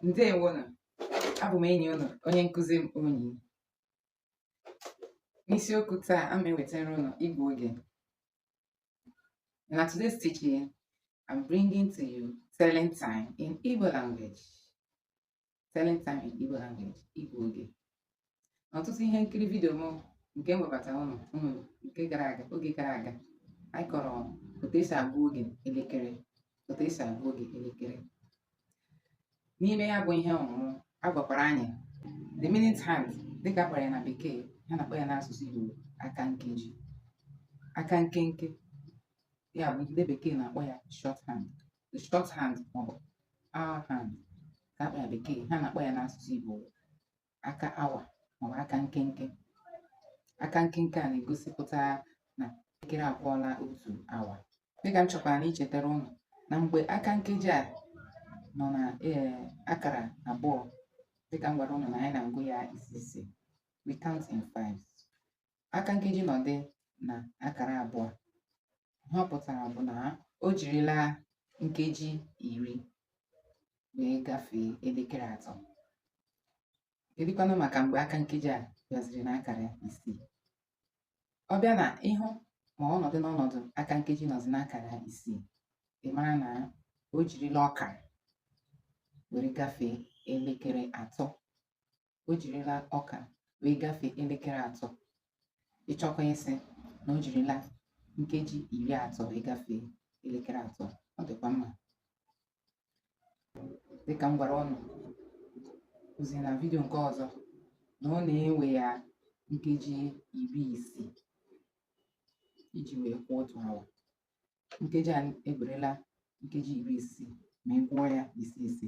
ndewo nụ abụ m enyi ụnụ onye nkụzi m onyi n'isiokwu taa ana m ewetara ụnụ ịgụ oge na today's teaching I'm bringing to you telling time in Igbo language telling time in Igbo language ịgụ oge na ọtụtụ ihe nkiri vidio m nke m webatara ụnụ nke oge gara aga anyị kọrọ otu esi agụ oge elekere otu esi agụ oge elekere n'ime ya bụ ihe ọmụmụ a gwakwara anyị the minute hand dịka a kpọrọ ya na bekee ha na-akpọ ya n'asụsụ Igbo aka nkeji aka nkenke ya bụ ndị bekee na-akpọ ya short hand the short hand maọbụ hour hand ka a kpọ ya bekee ha na-akpọ ya n'asụsụ Igbo aka awa maọbụ aka nkenke aka nkenke a na-egosipụta na elekere akụọla otu awa dịka m chọkwara na ichetara ụnụ na mgbe aka nkeji a nọ na ee akara abụọ dịka m gwara ụnụ na anyị na-agụ ya ise ise we count in fives aka nkeji nọdụ na akara abụọ ihe ọ pụtara bụ na o jirila nkeji iri wee gafee elekere atọ kedụkwanụ maka mgbe aka nkeji a bịaziri na akara isii ọ bịa na ị hụ ma ọnọdụ n'ọnọdụ aka nkeji nọzi n'akara isii ị mara na o jirila ọkara were gafee elekere atọ o jirila ọkara wee gafee elekere atọ ị chọkwa ịsị na o jirila nkeji iri atọ wee gafee elekere atọ ọ dịkwa mma dịka m gwara ụnụ ozi na vidio nke ọzọ na ọ na-ewe ya nkeji iri isii iji wee kụọ otu awa nkeji a ewerela nkeji iri isii ma ị gụọ ya ise ise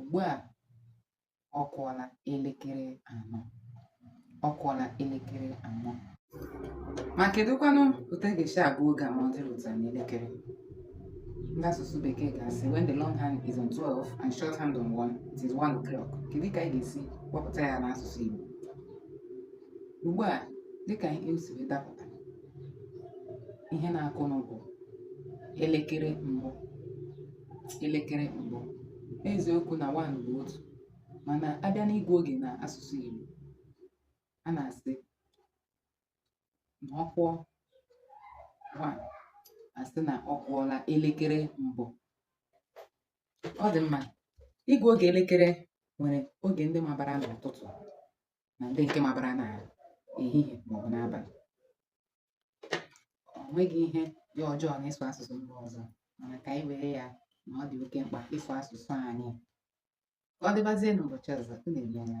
ugbu a ọ kụọla elekere anọ ọ kụọla elekere anọ ma kedụkwanụ otu a ga-esi agụ oge a ma ọ dịrị otu a n'elekere ndị asụsụ bekee ga-asị when the long hand is on 12 and short hand on 1 it is 1 o'clock kedu ka anyị ga-esi kpọpụta ya n'asụsụ Igbo ugbu a dịka ihe o si wee dapụta ihe na-akụnụ bụ elekere mbụ elekere mbụ eziokwu na one bụ otu mana a bịa n'ịgụ oge na asụsụ Igbo a na-asị na ọ kụọ one a sị na ọ kụọla elekere mbụ ọ dị mma ịgụ oge elekere nwere oge ndị mabara n'ụtụtụ na ndị nke mabara na ehihie maọbụ n'abalị o nweghị ihe dị ọjọọ n'ịsụ asụsụ mba ọzọ mana ka anyị were ya na ọ dị oke mkpa ịsụ asụsụ anyị ka ọ dịbazie n'ụbọchị ọzọ unu emeela